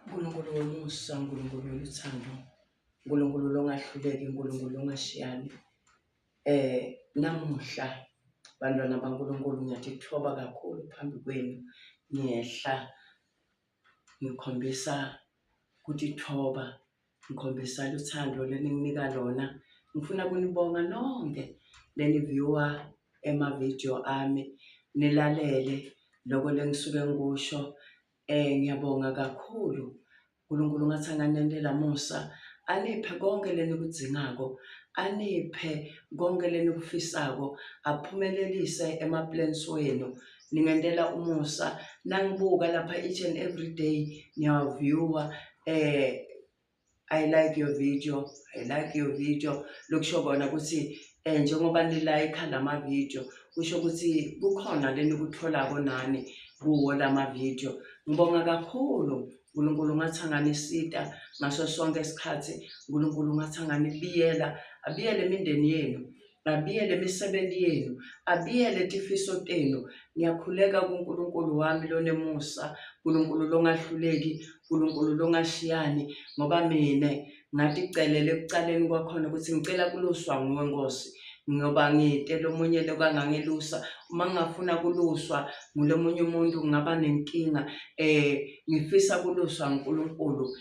Nkulunkulu womusa, Nkulunkulu woluthando, Nkulunkulu longahluleki, Nkulunkulu longashiyani. Eh namuhla bantwana baNkulunkulu ngiyadithoba kakhulu phambi kwenu ngiyehla ngikhombisa kutithoba Ngikhombisani uthando leninginika lona. Ngifuna kunibonga nonke leniviewer ema-video ami nilalele loko lengisuke ngikusho. Eh ngiyabonga kakhulu. uNkulunkulu ngathi anganendela musa aniphe konke lenikudzingako, aniphe konke lenikufisako, aphumelelise ema-plans wenu ningentela umusa nangibuka lapha each and every day ngiyawaviewa eh i like your video i like your video lokusho kona ukuthi um njengoba nilayikha la mavidiyo kusho ukuthi kukhona le nikutholako nani kuwo la mavidiyo ngibonga kakhulu unkulunkulu ungathi anganisita ngaso sonke isikhathi unkulunkulu ungathi anganibiyela abiyele imindeni yenu Abiyele imisebenzi yenu, abiyele tifiso tenu. Ngiyakhuleka kuNkulunkulu wami lonemusa, Nkulunkulu longahluleki, Nkulunkulu longashiyani, ngoba mina ngaticelele ekucaleni kwakhona ukuthi ngicela kuluswa nguwe Nkosi ngoba ngite lomunye lokangangelusa uma ngingafuna kuluswa ngulomunye umuntu ngingaba nenkinga um ngifisa kuluswa nguNkulunkulu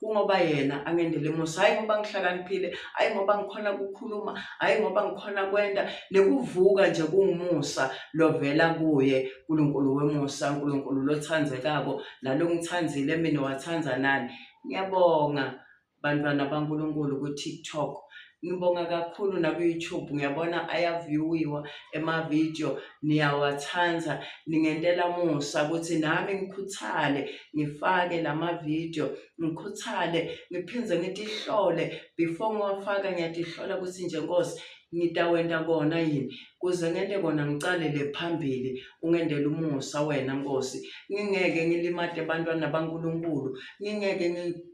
kungoba yena angendele musa hhayi ngoba ngihlakaniphile hhayi ngoba ngikhona kukhuluma hhayi ngoba ngikhona kwenda nekuvuka nje kungumusa lovela kuye nkulunkulu wemusa nkulunkulu lothandzekako nalongithandzile mina wathanda nani ngiyabonga bantwana bankulunkulu ku-tiktok Ngibonga kakhulu naku-YouTube ngiyabona ayaviewiwa emavidiyo niyawathanda ningentela musa ukuthi nami ngikhuthale ngifake la mavidiyo ngikhuthale ngiphinde ngitihlole before ngiwafaka ngiyatihlola ukuthi nje nkosi ngitawenta kona yini kuze ngente kona ngicalele phambili ungentela umusa wena nkosi ngingeke ngilimade bantwana bankulunkulu ngingeke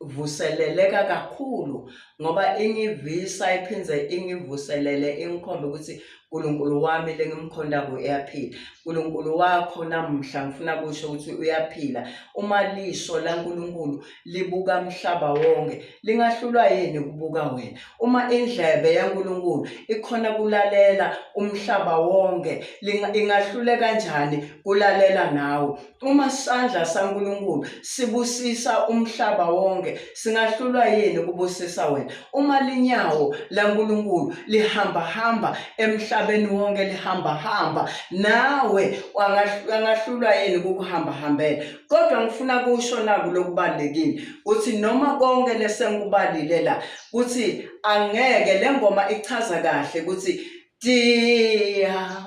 vuseleleka kakhulu ngoba ingivisa iphinde ingivuselele ingikhombe ukuthi uNkulunkulu wami lengimkhondako uyaphila uNkulunkulu wakho namuhla ngifuna kusho ukuthi uyaphila uma lisho laNkulunkulu libuka umhlaba wonke lingahlulwa yini ukubuka wena uma indlebe yaNkulunkulu ikhona kulalela umhlaba wonke ingahlule kanjani kulalela nawe Uma isandla saNkulunkulu sibusisa umhlaba wonke, singahlulwa yini kubusisa wena? Uma linyawo laNkulunkulu lihambahamba emhlabeni wonke lihambahamba, nawe angahlulwa yini kukuhambahambela? Kodwa ngifuna kusho naku lokubalulekile ukuthi noma konke lesengikubalile la ukuthi angeke le ngoma ichaza kahle ukuthi dia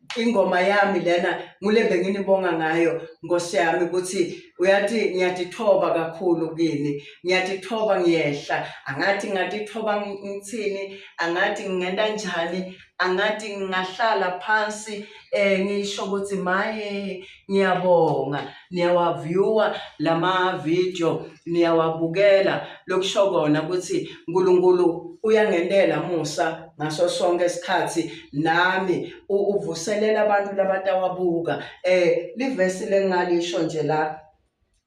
ingoma yami lena ngule benginibonga ngayo nkosi yami ukuthi uyathi ngiyadithoba kakhulu kini ngiyadithoba ngiyehla angathi ngadithoba ngithini angathi ngingena njani angathi ngingahlala phansi um ngisho ukuthi maye Ngiyabonga niyawaviewer lama video niyawabukela lokusho kona ukuthi uNkulunkulu uyangenela musa ngaso sonke isikhathi nami uvuselela abantu labatawabhuka eh livesi lengalisho nje la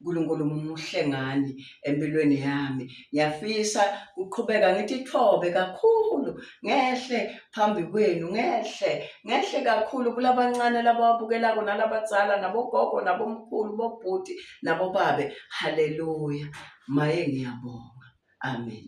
Nkulunkulu muhle ngani empilweni yami ngiyafisa kuqhubeka ngithi thobe kakhulu ngehle phambi kwenu ngehle ngehle kakhulu kulabancane labawabukelako nalabadzala nabogogo nabomkhulu bobhuti nabobabe haleluya maye ngiyabonga amen